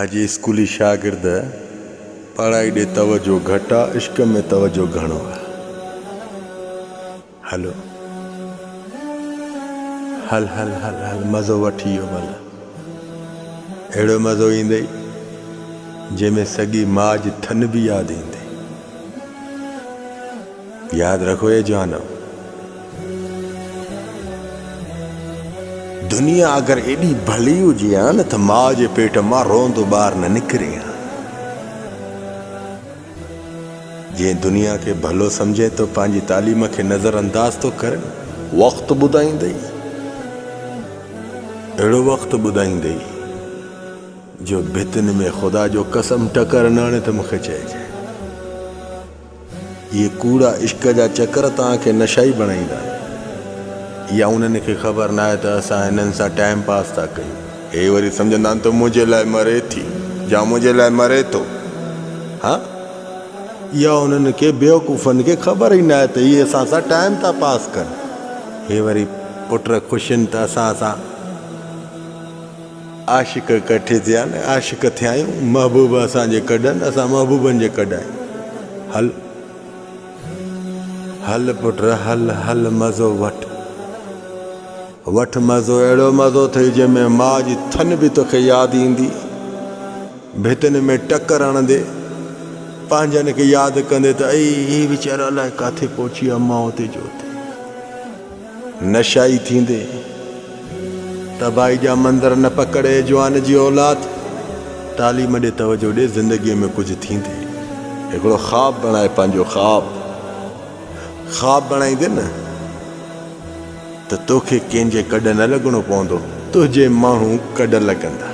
اڄ اسڪولي شاگرد پڙهائي ڏي توجه گهٽ آ عشق ۾ توجه گهڻو آ هلو هل هل هل هل مزو وٺ اهو ڀلا اهڙو مزو ايندئي جنهن ۾ سڳي ماء جي ٿن به ياد ايندئي. ياد رکو اي جوانو! دنيا اگر ايڏي ڀلي هجي ها نه ته ماء جي پيٽ مان روئندو ٻار نه نڪري ها. جنهن دنيا کي ڀلو سمجهين ٿو پنهنجي تعليم کي نظر انداز ٿو ڪرين. وقت ٻڌائيندئي. اهڙو وقت ٻڌائيندئي جو ڀتين ۾ خدا جو قسم ٽڪر نه هڻي ته مون کي چئجي. اهي ڪوڙا عشق جا چڪر توهان کي نشائي بڻائيندا يا انهن کي خبر ناهي ته اسان هنن سان ٽائيم پاس ٿا ڪيون. هي وري سمجهندا آهن ته منهنجي لاء مري ٿي يا منهنجي لاء مري ٿو. ها يا انهن کي بيوقوفن کي خبر ئي ناهي ته هي اسان سان ٽائيم ٿا پاس ڪن. هي وري پٽ خوش آهن ته اسان سان. عاشق ڪٺي ٿيا نه عاشق ٿيايون محبوب اسان جي ڪڏن اسان محبوبن جي ڪڏايون هل هل پٽ هل هل مزو وٺ وٺ مزو اهڙو مزو ٿئي جنهن ۾ ماء جي ٿن به توکي ياد ايندي ڀتن ۾ ٽڪر هڻندي پنهنجن کي ياد ڪندي ته اي هي ويچارا الائي ڪاٿي پهچي ويا ماء تي جو نشائي ٿيندي تباهي جا منظر نه پڪڙ اي جوان جي اولاد تعليم ڏي توجه ڏي زندگي ۾ ڪجهه ٿيندي هڪڙو خواب بڻائي پنهنجو خواب خواب بڻائيندي نه ته توکي ڪنهن جي ڪڏ نه لڳڻو پوندو تنهنجي ماڻهو ڪڏ لڳندا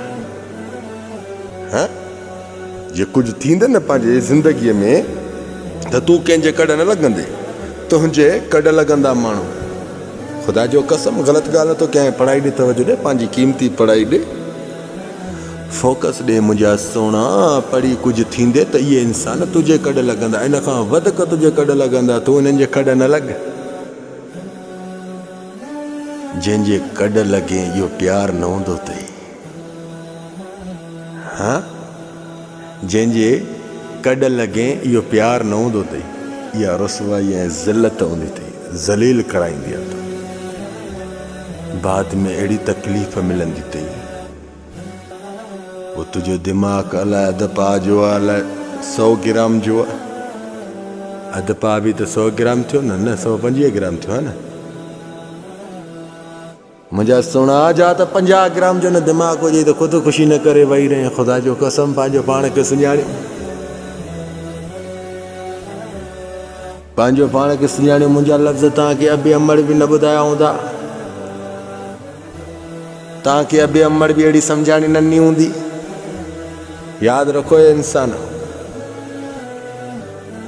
ها جي ڪجهه ٿيندي نه پنهنجي زندگيء ۾ ته تون ڪنهن جي ڪڙ نه لڳندي، تنهنجي ڪڙ لڳندا ماڻهو. خدا جو قسم غلط ڳالهه نه ٿو ڪيان پڙهائي ڏي توجه ڏي پنهنجي قيمتي پڙهائي ڏي فوڪس ڏي منهنجا سهڻا پڙهي ڪجهه ٿيندي ته اهي انسان تنهنجي ڪڙ لڳندا ان کان وڌڪ تنهنجي ڪڙ لڳندا تون انهن جي ڪڙ نه لڳ جنهن جي ڪڙ لڳين اهو پيار نه هوندو اٿئي. هه جنهن جي ڪڏ لڳين اهو پيار نه هوندو اٿئي اها رسوائي ۽ ذلت هوندي اٿئي ذليل ڪرائيندي اٿئي بعد ۾ اهڙي تڪليف ملندي اٿئي پوء تنهنجو دماغ الاء اڌ پاء جو آ الاء سو گرام جو آ اڌ پاء به ته سو گرام ٿيو نه نه سو پنجويهه گرام ٿيو آ نه منهنجا سهڻا جا ته پنجاهه گرام جو نه دماغ هجئي ته خود خوشي نه ڪري ويهي رهين خدا جو قسم پنهنجو پاڻ کي سڃاڻي پنهنجو پاڻ کي سڃاڻي منهنجا لفظ تان کي ابي امڙ به نه ٻڌايا هوندا تان کي ابي امڙ به اهڙي سمجهاڻي نه ڏني هوندي ياد رکو انسان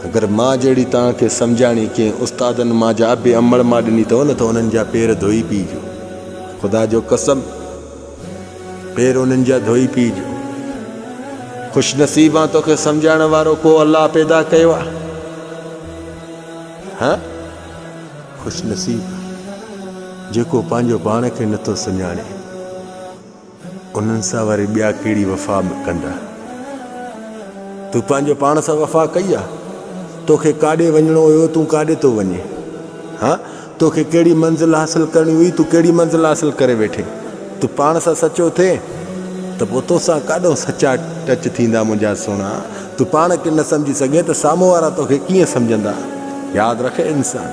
اگر مان جهڙي توهان کي سمجهاڻي ڪنهن استادن مان جا ابي امڙ مان ڏني اٿو نه ته انهن جا پير ڌوئي پيئجو. خدا جو قسم پير انهن جا ڌوئي پيئجو. خوش نصيب آن توکي سمجهائڻ وارو ڪو الله پيدا ڪيو آ. ها خوش نصيب جيڪو پنهنجو پاڻ کي نٿو سڃاڻي. انهن سان وري ٻيا ڪهڙي وفا ڪندا؟ تو پنهنجي پاڻ سان وفا ڪئي آ؟ توکي ڪاڏي وڃڻو هيو تون ڪاڏي ٿو وڃين؟ ها توکي ڪهڙي منزل حاصل ڪرڻي هئي تون ڪهڙي منزل حاصل ڪري ويٺي؟ تو پاڻ سان سچو ٿي ته پوء توسان ڪاڏو سچا ٽچ ٿيندا منهنجا سهڻا تو پاڻ کي نه سمجهي سگهين ته سامهون وارا توکي ڪيئن سمجهندا؟ ياد رک انسان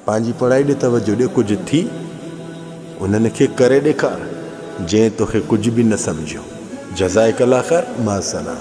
پنهنجي پڙهائي ڏي توجهه ڏي ڪجهه ٿي. انهن کي ڪري ڏيکار جنهن توکي ڪجهه به نه سمجهيو جزائڪ الله خير مع السلام.